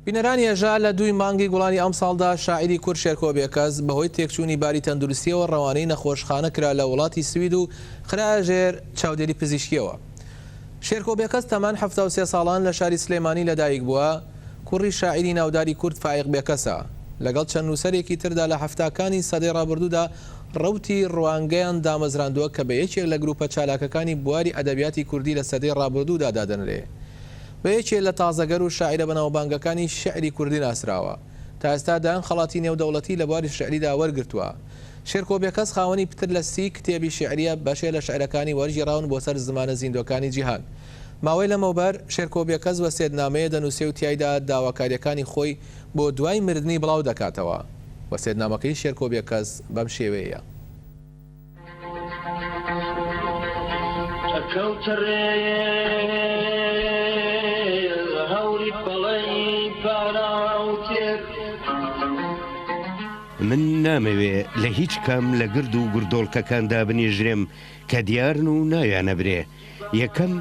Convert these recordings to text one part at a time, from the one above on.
بینەرانی هەژار لە دووی مانگی گوڵانی ئەمساڵدا شاعیری کورد شێرکۆ بێکەس بەهۆی تێکچوونی باری تەندروستییەوە ڕەوانەی نەخۆشخانە کرا لە وڵاتی سوید و خرایە ژێر چاودێری پزیشکییەوە. شێرکۆ بێکەس تەمەن حەفتا و سێ ساڵان لە شاری سلێمانی لەدایک بووە، کوڕی شاعیری ناوداری کورد فایق بێکەسە. لەگەڵ چەند نووسەرێکی تردا لە حەفتاکانی سەدەی ڕابردوودا ڕەوتی ڕوانگەیان دامەزراندووە کە بە یەکێک لە گرووپە چالاکەکانی بواری ئەدەبیاتی کوردی لە سەدەی ڕابردوودا دادەنرێ. بە یەکێ لە تازەگەر و شاعیرە بەناوبانگەکانی شیعری کوردی ناسراوە. تا ئێستا دەیان خەڵاتی نێودەوڵەتی لە بواری شیعریدا وەرگرتووە. شێرکۆ بێکەس خاوەنی پتر لە سی کتێبی شیعرییە، بەشێ لە شیعرەکانی وەرگێڕاون بۆ سەر زمانە زیندووەکانی جیهان. ماوەی لەمەوبەر شێرکۆ بێکەس وەسێتنامەیە دەنووسێ و تیایدا داواکارییەکانی خۆی بۆ دوای مردنی بڵاو دەکاتەوە. وەسێتنامەکەی شێرکۆ بێکەس بەم شێوەیەیە. من نامەوێ لە هیچ کام لە گرد و گردۆڵکەکاندا بنیژرێم کە دیارن و ناویانە برێ یەکەم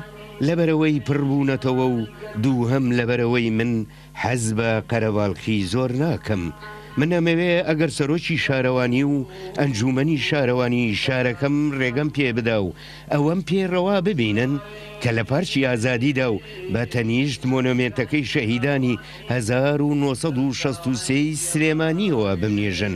لەبەرەوەی پڕبوونەتەوە و دووهەم لەبەرەوەی من لە حەز بە قەرەباڵخی زۆر ناکەم. من ئەمەوێ ئەگەر سەرۆکی شارەوانی و ئەنجوومەنی شارەوانی شارەکەم رێگەم پێ بدا و ئەوەم پێ رەوا ببینن کە لە پارکی ئازادیدا و بە تەنیشت مۆنۆمێنتەکەی شەهیدانی هەزار و نۆ سەد و شەست و سێ ی سلێمانییەوە بمنێژن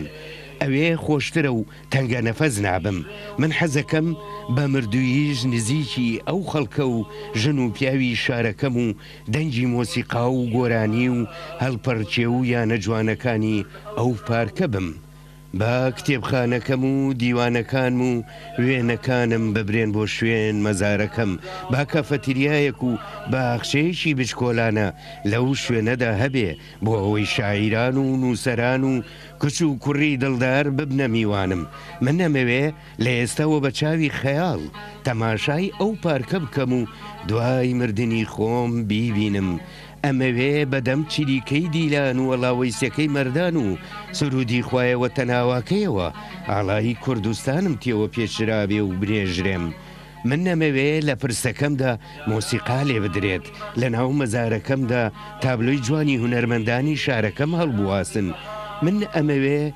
ئەوێ خۆشترە و تەنگەنەفەس نابم. من حەزەکەم بە مردووییش نزیکی ئەو خەڵکە و ژن و پیاوی شارەکەم و دەنگی مۆسیقا و گۆرانی و هەلپەڕکێ و یانە جوانەکانی ئەو پارکە بم. با کتێبخانەکەم و دیوانەکانم و وێنەکانم ببرێن بۆ شوێن مەزارەکەم، با کافەتریایەک و باخچەیەکی بچکۆلانە لەو شوێنەدا هەبێ بۆ ئەوەی شاعیران و نووسەران و کچ و کوڕی دڵدار ببنە میوانم. من ئەمەوێ لە ئێستاوە بە چاوی خەیاڵ تەماشای ئەو پارکە بکەم و دوای مردنی خۆم بیبینم، ئەمەوێ بە دەم چریکەی دیلان و ئەڵاوەیسەکەی مەردان و سروودی خوایە وەتەناواکەیەوە ئاڵای کوردستانم تێوە پێچرابێ و برێژرێم. من نەمەوێ لە پرسەکەمدا مۆسیقا لێ بدرێت، لە ناو مەزارەکەمدا تابلۆی جوانی هونەرمەندانی شارەکەم هەڵبواسن. من ئەمەوێ.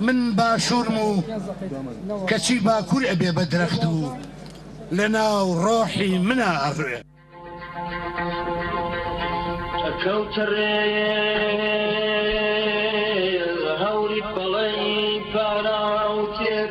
من باشورم و کەچی باکور ئەبێ بە درەخت و لە ناو ڕۆحی منا ئەڕوێ. ئەکەوتە ڕێ هەوری پەڵەی پاراو تێر.